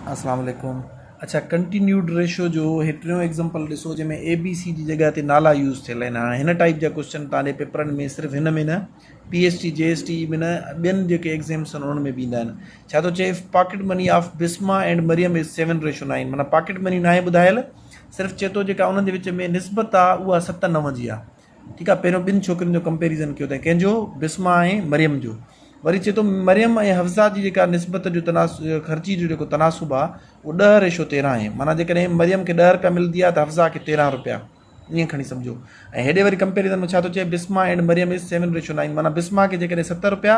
اسلام عليڪم اڇا ڪنٽينيوڊ ريشو جو هيٽريون ايگزامپل ڏسو جنهن ۾ اي بي سي جي جڳهه تي نالا يوز ٿيل آهن هاڻي هن ٽائيپ جا ڪوسچن تان جي پيپرن ۾ صرف هن ۾ نه P S T G S T ۾ نه ٻين جيڪي ايگزامس آهن انهن ۾ به ايندا آهن ڇا ٿو چئي pocket money of Bisma and Maryam is seven ratio nine معنيٰ پاڪيٽ مني ناهي ٻڌايل صرف چئي ٿو جيڪا انهن جي وچ ۾ نسبت آهي اها ست نو جي آهي ٺيڪ آ پهريون ٻن ڇوڪرين جو ڪمپيريزن ڪيو تائين ڪنهن جو بسمه ۽ مريم جو وري چئي ٿو مريم ۽ حفصه جي جيڪا نسبت جو تناس خرچي جو جيڪو تناسب آ اهو ڏهه ريشو تيرهن آهي معنيٰ جيڪڏهن مريم کي ڏهه روپيا ملندي آ ته حفصه کي تيرهن روپيا ائين کڻي سمجهو ۽ هيڏي وري ڪمپيريزن ۾ ڇا ٿو چئي Bisma and Maryam is seven ratio nine معنيٰ بسمه کي جيڪڏهن ست روپيا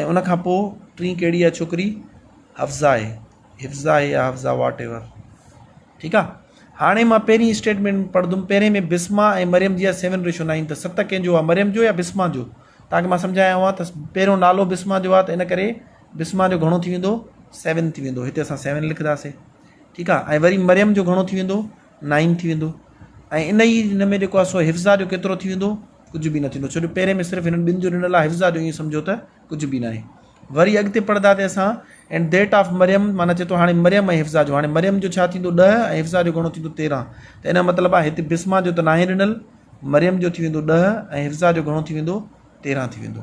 ۽ ان کان پوء ٽين ڪهڙي آهي ڇوڪري حفظا آهي حفظا آهي يا حفظا واٽ ايور ٺيڪ آهي هاڻي مان پهرين اسٽيٽمنٽ پڙهندم پهرين ۾ بسما ۽ مريم جي سيون ريشو نائن ته ست ڪنهن جو مريم جو يا بسما جو تاڪي مان سمجھايان هئا ته پهريون نالو بسما جو آهي ته ان ڪري بسما جو گھڻو ٿي ويندو سيون ٿي ويندو هتي اسان سيون لکنداسي ٺيڪ آهي ۽ وري مريم جو گھڻو ٿي ويندو نائين ٿي ويندو ۽ ان ئي ان ۾ جيڪو آهي سو حفظا جو ڪيترو ٿي ويندو ڪجهه به نه ٿيندو ڇو جو پهرين ۾ صرف هنن ٻن جو ڏنل آهي حفظا جو ائين سمجهو ته ڪجهه به ناهي وري اڳتي پڙهندا تي اسان اينڊ ديٽ آف مريم معنيٰ چي ٿو هاڻي مريم ۽ حفظا جو هاڻي مريم جو ڇا ٿيندو ڏهه ۽ حفظا جو گهڻو ٿيندو تيرهن ته ان جو مطلب آهي هتي بسما جو ته ناهي ڏنل مريم جو ٿي ويندو ڏهه ۽ حفظا جو گهڻو ٿي ويندو تيرهن ٿي ويندو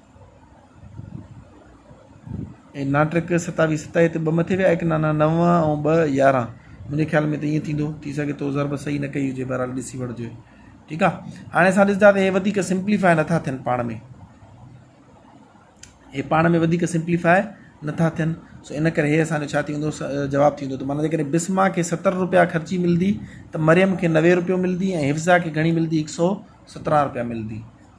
۽ ناٽڪ ستاوي ستائي تي ٻه مٿي ويا ايڪ نانا نو ۽ ٻه يارهن منهنجي خيال ۾ ته ائين ٿيندو ٿي سگهي ٿو ضرب صحيح نه ڪئي هجي بهرحال ڏسي وٺجي ٺيڪ آهي هاڻي اسان ڏسندا ته هي وڌيڪ سمپليفاء نٿا ٿين پاڻ ۾ هي پاڻ ۾ وڌيڪ سمپليفاء نٿا ٿين سو ان ڪري هي اسانجو ڇا ٿيندو جواب ٿيندو ته مانا جيڪڏهن بسما کي ستر روپيا خرچي ملندي ته مريم کي نوي روپيو ملندي ۽ حفظا کي گهڻي ملندي هڪ سو سترهن روپيا ملندي